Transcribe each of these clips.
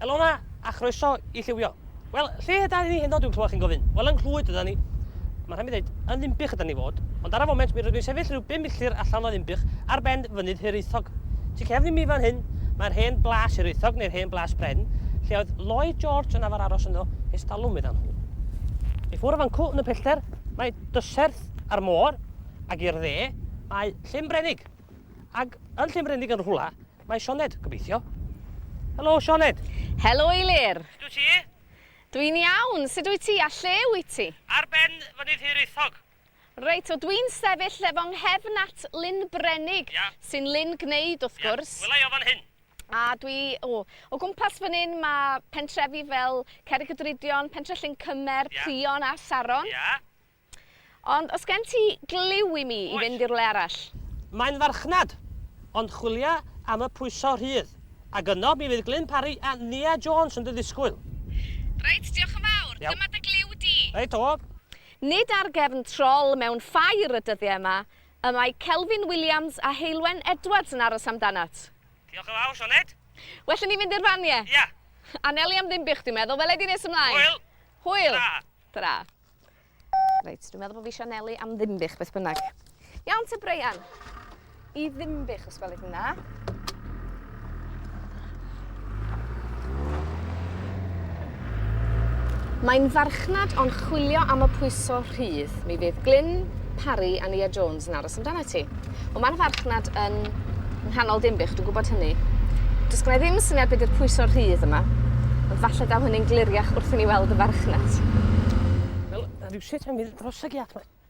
Helo 'na, a chroeso i Lliwio. Wel, lle ydan ni heno dwi'n clywed chi'n gofyn? Wel, yng Nghlwyd ydan ni. Mae rhaid mi ddeud, yn Ddinbych ydan ni fod, ond ar y foment mi rydw i'n sefyll rhyw bum milltir allan o Ddinbych ar ben fynydd Hiraethog. Tu cefn i mi fan hyn, Mae'r hen blas Hiraethog neu'r hen blas Bren, lle oedd Lloyd George yn afar aros ynddo ers talwm meddai nhw. I ffwrdd o fan cw yn y pellter mae Dyserth a'r môr, ac i'r dde mae Llyn Brenig. Ac yn Llyn Brenig yn rhwla mae Sioned, gobeithio. Helo, Sioned! Helo, Eilir! Sut wyt ti? Dwi'n iawn, sut wyt ti a lle wyt ti? Ar ben fynydd Hiraethog. Reit, wel dwi'n sefyll lle fo nghefn at Lyn Brenig, sy'n lyn gwneud wrth gwrs. Ie, wela i o fan hyn. A dwi, o, o gwmpas fan hyn mae pentrefi fel Cerrig y Drudion, Pentre Llyn Cymer, Prion a Saron. Ie. Ond os gen ti gliw i mi i fynd i rywle arall? Mae'n farchnad, ond chwilia am y pwyso rhydd, ac yno mi fydd Glyn Parry a Nia Jones yn dy ddisgwyl. Reit, diolch yn fawr. Iawn. Dyma dy gliw di. Reit, o. Nid ar gefn trol mewn ffair y dyddiau yma y mae Kelvin Williams a Heulwen Edwards yn aros amdanat. Diolch yn fawr, Sioned. Well i ni fynd i'r fan, ie? Ia. Anelu am ddim bych, dwi'n meddwl. Wela i di nes ymlaen. Hwyl! Hwyl! Tara. Tara. Reit, dwi'n meddwl bod fi eisiau anelu am ddim bych, beth bynnag. Iawn te, Breian? I ddimbych, os gwelwch yn dda. Mae'n farchnad o'n chwilio am y pwyso rhydd. Mi fydd Glyn, Parry a Nia Jones yn aros amdana ti. Ond mae'r farchnad yn nghanol dimbych, dwi'n gwybod hynny. Does gen i ddim syniad beth yw'r pwyso rhydd yma, ond falle daw hynny'n gliriach wrth i ni weld y farchnad. Wel, rhyw sut mae'n mynd dros y giat mae.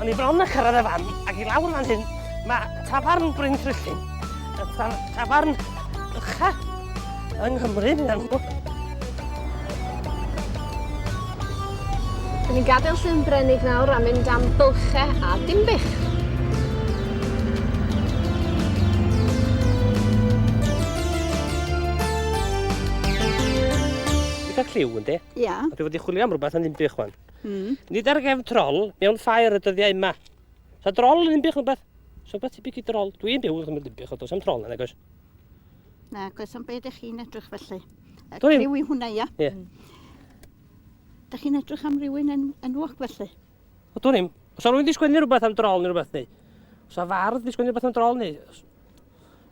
O'n i bron a cyrraedd y fan, ac i lawr fan hyn, mae tafarn Bryn Trillin. Y tafarn ucha yng Nghymru, fi'n amlwg. Dyn ni'n gadael llyn Brenig nawr a mynd am bylche a dimbych. Eitha cliw, ynddi? Ia. Yeah. Dwi wedi chwilio am rhywbeth yn ddim bych wan. Mm. Nid ar gefn trol, mewn ffair y dyddiau yma. Sa drol yn unbych rhywbeth? Sa rhywbeth tebyg i drol? Dwi'n byw yn cymryd unbych, ond does am trol na, nagos? Na, gos am beth ych chi'n edrych felly. Y Dwi'n... criw i hwnna, ia? Ie. Dych chi'n edrych am rywun yn, yn wog felly? O, dwi'n im. Os o'n rhywun wedi sgwennu rhywbeth am drol neu rhywbeth, neu? Os o'n fardd wedi sgwennu rhywbeth am drol, neu?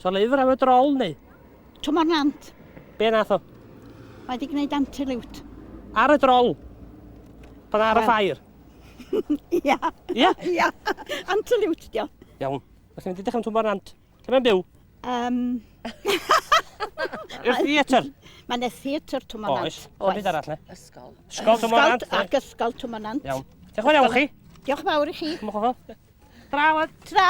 So lyfr am y drol neu? Tymor nant. Be nath o? Mae wedi gwneud antiliwt. Ar y drol? Pan ar y ffair? Ia. Ia? Ia. Antiliwt, dio. Iawn. Felly mynd i dechrau'n tymor nant. Lle mae'n byw? Um... I'r theatr? Mae yna theatr tymor nant. Oes. Oes. Byd arall, ne? Ysgol. Ysgol tymor nant. Ac ysgol tymor nant. Iawn. Diolch yn fawr iawn chi. Diolch yn fawr i chi. Mwch o fel. Bravo, tra!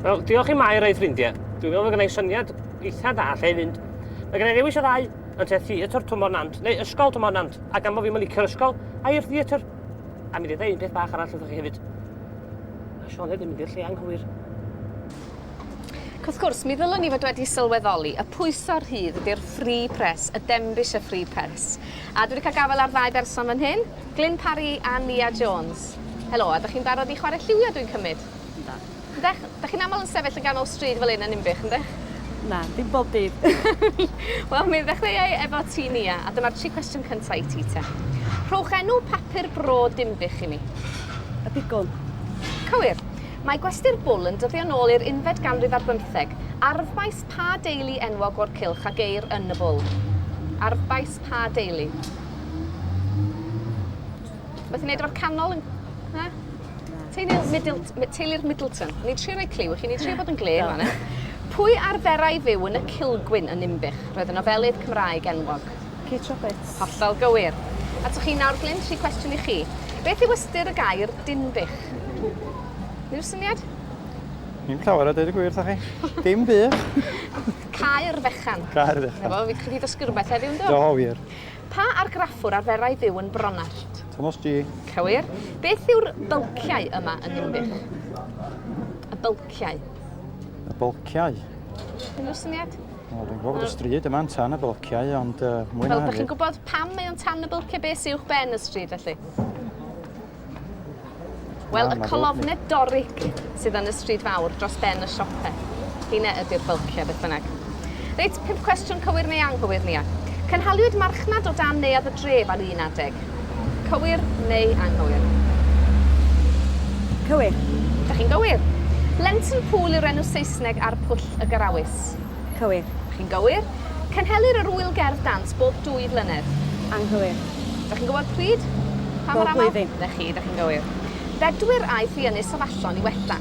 Wel, diolch i Mair a'i ffrindiau. Dwi'n meddwl bod gen i syniad eitha da lle i fynd. Mae gen i ddewis o ddau, yn te theatr Twmor Nant, neu ysgol Twmor Nant, a gan bod fi'n mynd licio'r ysgol, a i'r theatr. A mi ddedau un peth bach arall wrthych chi hefyd. A Sioned yn mynd i'r lle anghywir. Ac wrth gwrs, mi ddylwn i fod wedi sylweddoli y pwyso rhydd ydy'r free press, y Denbigh y free press. A dwi wedi cael gafael ar ddau berson fan hyn, Glyn Parry a Nia Jones. Helo, a dych chi'n barod i chwarae lliwio dwi'n cymryd? Ynda. Ydych? Dych chi'n aml yn sefyll yn ganol stryd fel hyn yn Ninbych, ydych? Na, dim bob dydd. Wel, mi ddechreuai efo ti Nia, a dyma'r tri cwestiwn cyntaf i ti te. Rhowch enw papur bro Dinbych i mi. Y Pigwn. Cywir. Mae gwesty'r bwl yn dyddio'n ôl i'r unfed ganrif ar bymtheg. Arfbais pa deulu enwog o'r cylch a geir yn y bwl? Arfbais pa deulu? Beth i wneud efo'r canol? Yn... Na? Teulu'r Middleton. Teulu'r Middleton. Ni'n trio rhoi clyw i chi, ni'n trio bod yn glên fan hyn. Pwy arferai fyw yn y Cilgwyn yn Ninbych? Roedd y nofelydd Cymraeg enwog. Kate Roberts. Hollol gywir. A to chi nawr Glyn, tri cwestiwn i chi. Beth yw ystyr y gair Dinbych? Unrhyw syniad? Ni'n llawer o dweud y gwir, ta chi? Dim byd. Caer fechan. Caer fechan. Efo, fi chi ddysgu rhywbeth heddiw, ynddo? Do, wir. Pa argraffwr arferai fyw yn Bronallt? Thomas G. Cywir. Beth yw'r bylciau yma yn Dinbych? Y bylciau. Y bylciau? Unrhyw syniad? Wel dwi'n gwybod bod y stryd yma'n tan y bylciau, ond uh, mwy na hefyd... Fel bod chi'n gwybod pam mae o'n tan y bylciau beth sy'wch ben y stryd felly? Wel, y colofne doric sydd yn y stryd fawr dros ben y siopau. Hina ydy'r bylciau, beth bynnag. Reit, pimp cwestiwn cywir neu anghywir, Nia. Cynhaliwyd marchnad o dan neuadd y dref ar un adeg. Cywir neu anghywir? Cywir. Da chi'n gywir. Lenton Pool yw'r enw Saesneg ar Pwll y Garawys. Dant. Cywir. Chi'n gywir. Cynhelir yr Ŵyl Gerdd Dant bob dwy flynedd. Anghywir. Dach chi'n gwybod pryd? Pa mor aml? Bob blwyddyn. 'Na chi, dach chi'n gywir. Bedwyr aeth i Ynys Afallon i wella.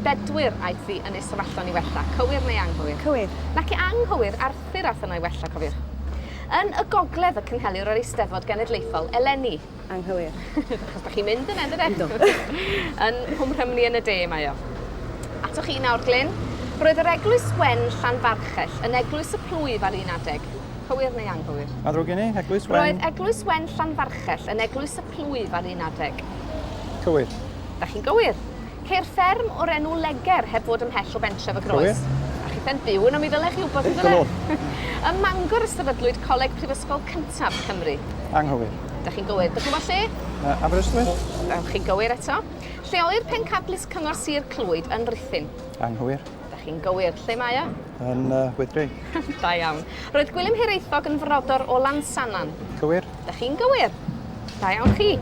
Bedwyr aeth i Ynys Afallon i wella. Cywir neu anghywir? Cywir. Naci, anghywir, Arthur aeth yno i wella, cofiwch. Yn y gogledd y cynhelir yr Eisteddfod Genedlaethol eleni. anghywir. Achos bod chi'n mynd yna, dydyn? Do. yn Hwm Rhymni yn y de mae o. Atoch chi nawr, Glyn. Roedd yr eglwys wen Llanfarchell yn eglwys y plwyf ar un adeg. Cywir neu anghywir? A ddrwg gen i, eglwys wen... Roedd eglwys wen Llanfarchell yn eglwys y plwyf ar un adeg. Cywir. Da chi'n gywir. Ceir fferm o'r enw Leger heb fod ymhell o bentref y Groes. Cofia? A chith e'n byw yno mi ddyle chi wybod yndyfe? Digon o. Ym Mangor y sefydlwyd coleg prifysgol cyntaf Cymru. Anghywir. Dych chi'n gywir. Dych chi'n gwybod lle? Yy Aberystwyth? Dych chi'n gywir eto. Lle oedd pencadlys Cyngor Sir Clwyd yn Rhuthun? Anghywir. Dych chi'n gywir. Lle mae o? Yn yy Wyddgrug. Da iawn. Roedd Gwilym Hiraethog yn frodor o Lansannan. Cywir. Dych chi'n gywir. Da iawn chi.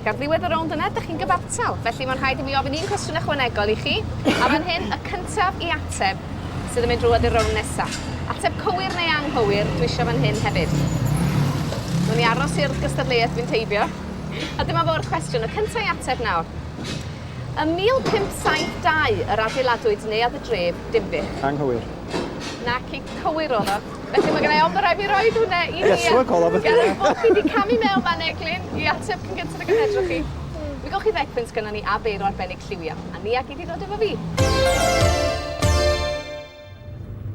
Gan ddiwedd y rownd yna, dych chi'n gyfartal. Felly mae'n rhaid i mi ofyn un cwestiwn ychwanegol i chi. A fan hyn, y cyntaf i ateb sydd yn mynd drwy i'r rownd nesaf. Ateb cywir neu anghywir, dwi eisiau fan hyn hefyd. Nw'n i aros i'r gystadleuaeth fynd teibio. A dyma fo'r cwestiwn, y cyntaf i ateb nawr. Ym 1572 yr adeiladwyd neuadd y dref Dinbych. Anghywir. Naci, cywir oedd o. Felly mae gennau ofn bod rhaid fi roed hwnna i ni. Ie, so a call off. Gan ei bod fi wedi camu mewn fan Eglin i ateb cyn gyntaf y gynhedrwch chi. Mi gowch chi ddecpunt gynnon ni a beiro arbennig lliw iawn, a ni a gei di ddod efo fi.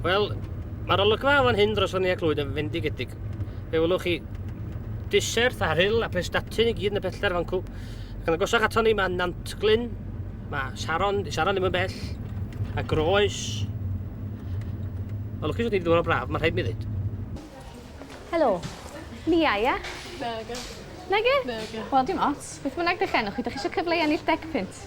Wel, mae'r olygfa o fan hyn dros Fynni a Clwyd yn fendigedig. Fe welwch chi diserth a rhyl a prestatyn i gyd yn y pellter fan cw. Ac yn agosach ato ni mae Nantglyn, mae Sharon, di Sharon ddim yn bell, a Groes. Mae'n lwcus bod ni wedi dod o braf, mae'n rhaid mi ddweud. Helo. Lia, ia? Nage. Nage? Nage. Wel, dim ots. Beth bynnag dych enw chi, dych chi eisiau cyfle i ennill deg pint?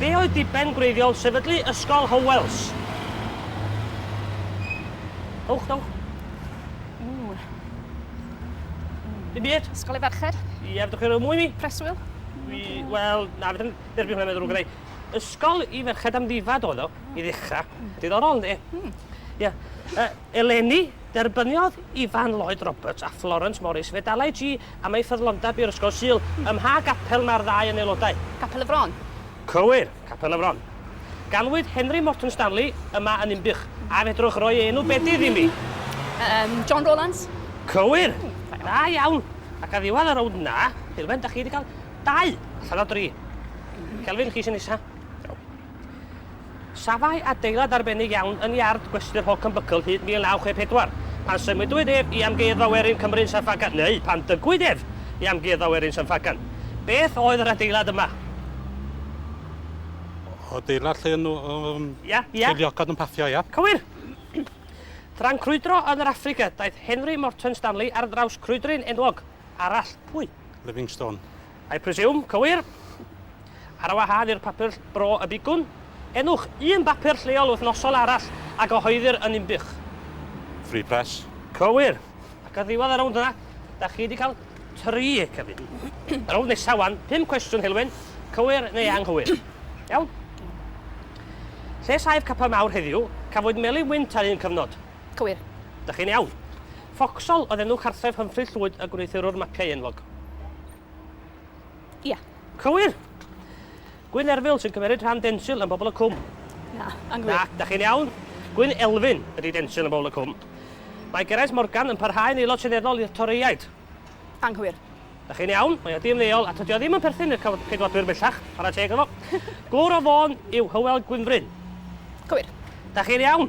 Be oedd diben gwreiddiol sefydlu Ysgol Howells? Dowch, dowch. Ww. Dim byd? Ysgol Efercher? Ie, fedrwch chi roi mwy mi? Preswyl? Fi, wel, na, fydden derbyn hwnna meddwl rhywbeth gyda'i. Ysgol i ferched am ddifad oedd o, i ddechrau. Diddorol, ynddi? Hmm. Ie. Uh, eleni, Derbyniodd Ifan Lloyd Roberts a Florence Morris fedalau G am eu ffyddlondeb i'r Ysgol Sul, ym mha gapel mae'r ddau yn aelodau? Capel y Fron. Cywir, Capel y Fron. Ganwyd Henry Morton Stanley yma yn Ninbych, a fedrwch roi ei enw bedydd imi? Yym, John Rowlands. Cywir! Da iawn! Ac ar ddiwedd y rownd yna, Dylwen, da chi wedi cael dau allan o dri. Kelvin, chi sy'n nesa. Iawn. Safai adeilad arbennig iawn yn iard gwesty'r Holcombe Buckle hyd 1964, pan symudwyd ef i Amgueddfa Werin Cymru yn San Ffagan, neu pan dygwyd ef i Amgueddfa Werin San Ffagan. Beth oedd yr adeilad yma? Adeilad lle yn nhw treiliogod yn paffio, ia? Cywir! Tra'n crwydro yn yr Affrica, daeth Henry Morton Stanley ar draws crwydryn enwog arall. Pwy? Livingstone. I presume, cywir? Ar wahân i'r papur Bro y Bigwn, enwch un bapur lleol wythnosol arall a gyhoeddir yn Ninbych. Free Press. Cywir. Ac ar ddiwedd y rownd yna, da chi wedi cael tri cyfun. y rownd nesaf wan, pum cwestiwn Heulwen, cywir neu anghywir. Iawn? Lle saif Capel Mawr heddiw, cafwyd Melin Wynt ar un cyfnod. Cywir. Dych chi'n iawn. Foxhall oedd enw cartref Humphrey Llwyd y gwneuthurwr mapiau enwog. Ia. Cywir! Gwyn Erfil sy'n cymeryd rhan Densil yn Bobl y Cwm. Na, anghywir. Na, dych chi'n iawn. Gwyn Elfyn ydy Densil yn Bobl y Cwm. Mae Geraint Morgan yn parhau'n aelod seneddol i'r Torïaid. Anghywir. Da chi'n iawn, mae o di-ymddeol a tydi o ddim yn perthyn i'r cyf- Ceidwadwyr bellach, chwarae teg iddo fo. Glwr o Fôn yw Hywel Gwynfryn. Cywir. Da chi'n iawn.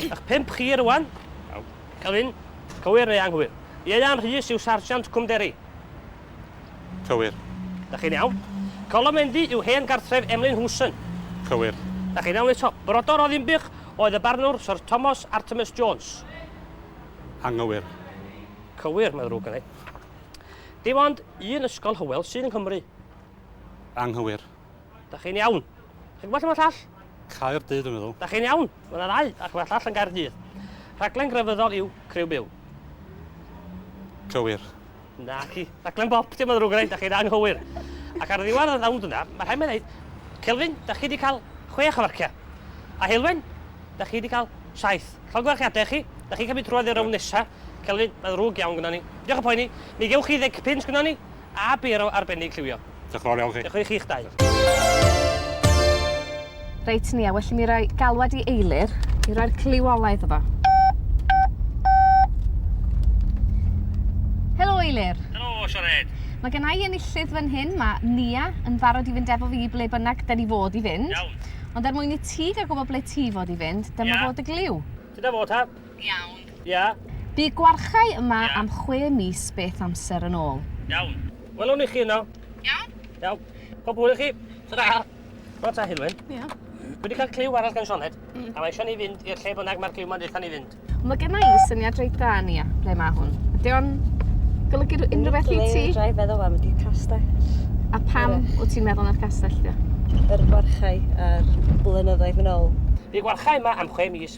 Ych pump chi rwan. Iawn. Gofyn, cywir neu anghywir? Ieuan Rhys yw Sarjant Cwmderi. Cywir. Da chi'n iawn. Colomendy yw hen gartref Emlyn Hewson. Cywir. Da chi'n iawn eto. Brodor o Ddinbych oedd y barnwr Syr Tomos Artemus Jones. anghywir. Cywir, mae'n ddrwg gennai. Dim ond un ysgol Hywel sydd yng Nghymru. Anghywir. Da chi'n iawn. Chi'n gwybod lle mae llall? Caerdydd, dwi'n meddwl. Da chi'n iawn. Mae yna ddau, ac mae llall yn Gaerdydd. Rhaglen grefyddol yw Criw Byw. Cywir. Na, chi. Rhaglen bop, dim ond rhywun rhaid, da chi'n anghywir. Ac ar ddiwedd y ddawnd yna, mae rhaid mae'n dweud, Celfyn, da chi wedi cael chwech o farciau. A Helwen, da chi wedi cael saith. Llongyfarchiadau chi, da chi'n cymryd trwad i'r rown nesaf. Celfyn, mae'n ddrwg iawn gyda ni. Diolch o poeni, mi gewch chi ddeg pins gyda ni, a byr o arbennig lliwio. Diolch yn fawr iawn chi. Diolch i chi'ch dau. Reit, Nia, well i mi roi galwad i Eilir i roi'r cliw ola iddo fo. Helo, Eilir. Helo, Siored. Mae gen i enillydd fan hyn, mae Nia yn barod i fynd efo fi ble bynnag da ni fod i fynd. Iawn. Ond er mwyn i ti gael gwybod ble ti fod i fynd, dyma yeah. fod y gliw. Dyna fo ta. Iawn. Ia? Bu gwarchae yma am chwe mis beth amser yn ôl. Iawn. Welwn i chi yno. Iawn. Iawn. Pob hwyl i chi. Tara. Wel ta Heulwen. Ia? Dwi 'di cael cliw arall gan Sioned, a mae eisiau ni fynd i'r lle bynnag mae'r cliw 'ma'n deutha ni fynd. Mae genna i syniad reit dda, Nia, ble mae hwn. Ydy o'n golygu unrhyw beth i ti? Dwi 'di feddwl am y castell. A pam wyt ti'n meddwl na'r castell 'di o? Yr gwarchae a'r blynyddoedd yn ôl. Bu gwarchae yma am chwe mis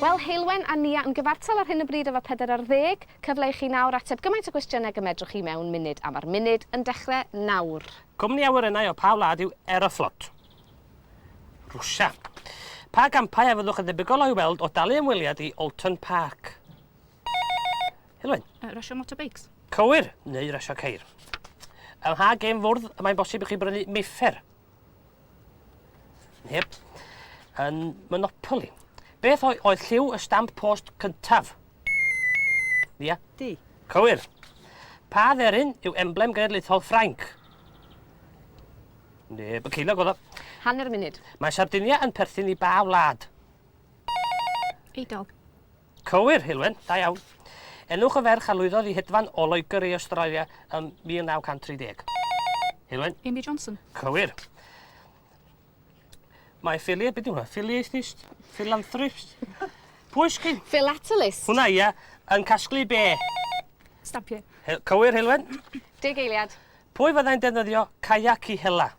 Wel, Heulwen a Nia yn gyfartal ar hyn o bryd efo pedair ar ddeg. Cyfle i chi nawr ateb gymaint o gwestiynau ag y medrwch chi mewn munud, a mae'r munud yn dechrau nawr. Cwmni awyrennau o pa wlad yw Aeroflot? Rwsia. Pa gampau a fyddwch yn ddebygol o'i weld o dalu ymweliad i Oulton Park? Heulwen. Yy, rasio motorbikes. Cywir, neu rasio ceir. Ym mha gêm fwrdd y mae'n bosib i chi brynu meiffr? Yep. Yn Monopoly. Beth oedd, oedd lliw y stamp post cyntaf? Ia? Yeah. Di. Cywir. Pa dderin yw emblem genedlaethol Ffrainc? Neb y ceilog oedd o. Hanner munud. Mae Sardinia yn perthyn i ba wlad? Eidol. Cywir, Heulwen, da iawn. Enwch y ferch a lwyddodd i hedfan o Loegr i Awstralia ym 1930. Heulwen. Amy Johnson. Cywir. Mae ffili, beth yw hwnna? Ffiliaethist? Philanthropist? Pwy sgyn? Philatelist. Hwna, ia. Yn casglu be? Stampiau. Cywir, Heulwen. Deg eiliad. Pwy fyddai'n defnyddio caiac i hela?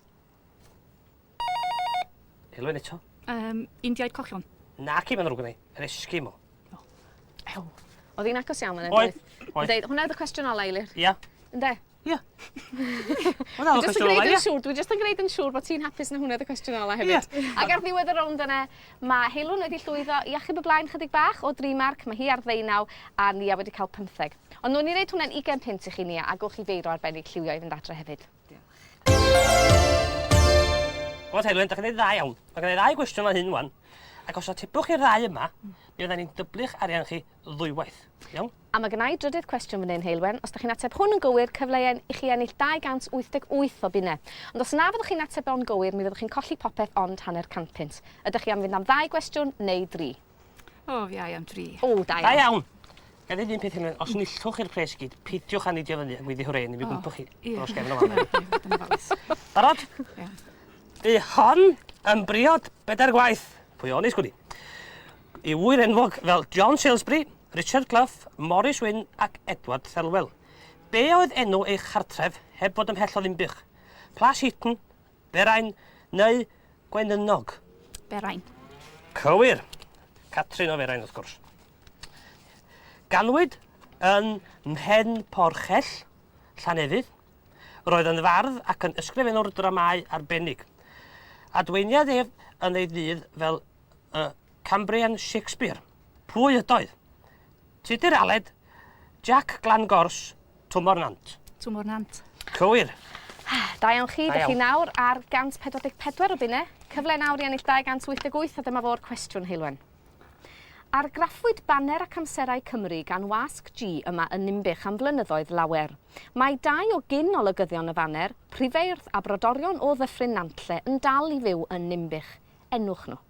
Helo yn eto. Um, Indiaid cochion. Na, cym yn rhywbeth ni. Yr esgym o. Ew. Oedd hi'n agos iawn yn edrych. Oedd. Oedd. Oedd. Hwna oedd y cwestiwn ola, Eilir. Ia. Yeah. Ynde? Ia. Hwna oedd y cwestiwn ola, ia. Siŵr, dwi jyst yn gwneud yn siŵr bod ti'n hapus na hwna oedd y cwestiwn ola hefyd. Yeah. Ac ar ddiwedd y rownd yna, mae Heilwn wedi llwyddo i achub y blaen chydig bach o dri marc, mae hi ar ddeunaw a Nia wedi cael pymtheg. Ond nhw'n i wneud hwnna'n 20 pint i chi Nia a gwch chi feiro arbennig lliwio i fynd adre hefyd. Wel, Heilwen, da chi'n ei dda iawn. Mae gen i ddau gwestiwn o hyn wan. Ac os atebwch i'r ddau yma, mm. mi oedden ni'n dyblu'ch arian chi ddwywaith. Iawn? A mae gennau drydydd cwestiwn fan hyn, Heilwen. Os da chi'n ateb hwn yn gywir, cyfleuen i chi ennill 288 o bunnau. Ond os na fyddwch chi'n ateb o'n gywir, mi fyddwch chi'n colli popeth ond hanner cant punt. Ydych chi am fynd am ddau gwestiwn neu dri? O, fi ai am tri. O, da iawn. Da iawn. Gan ddweud un peth hynny, os nillwch i'r pres gyd, peidiwch â nidio fyny a gwyddi hwrê, ni fi gwmpo chi dros gefn o fan. Barod? Di hon yn briod bedair gwaith. Pwy o'n isgwni? I wyr enwog fel John Salisbury, Richard Clough, Morris Wynne ac Edward Thelwell. Be oedd enw ei chartref heb fod ymhell o ddimbych? Plas Heaton, Berain neu Gwenynnog? Berain. Cywir! Catrin o Ferain wrth gwrs. Ganwyd yn Mhen Porchell, Llanefydd. Roedd yn fardd ac yn ysgrifennwr dramâu arbennig. Adweiniad ef yn ei ddydd fel y Cambrian Shakespeare. Pwy ydoedd? Tudur Aled, Jac Glangors, Tymor Nant. Tymor Nant. Cywir. Da iawn chi, dych chi nawr ar 144 o bunne, cyfle nawr i ennill 288 a dyma fo'r cwestiwn, Heulwen. Argraffwyd baner ac amserau Cymru gan Wasg G yma yn Ninbych am flynyddoedd lawer. Mae dau o gyn olygyddion y faner, Prifeirdd a brodorion o Ddyffryn Nantlle yn dal i fyw yn Ninbych. Enwch nhw.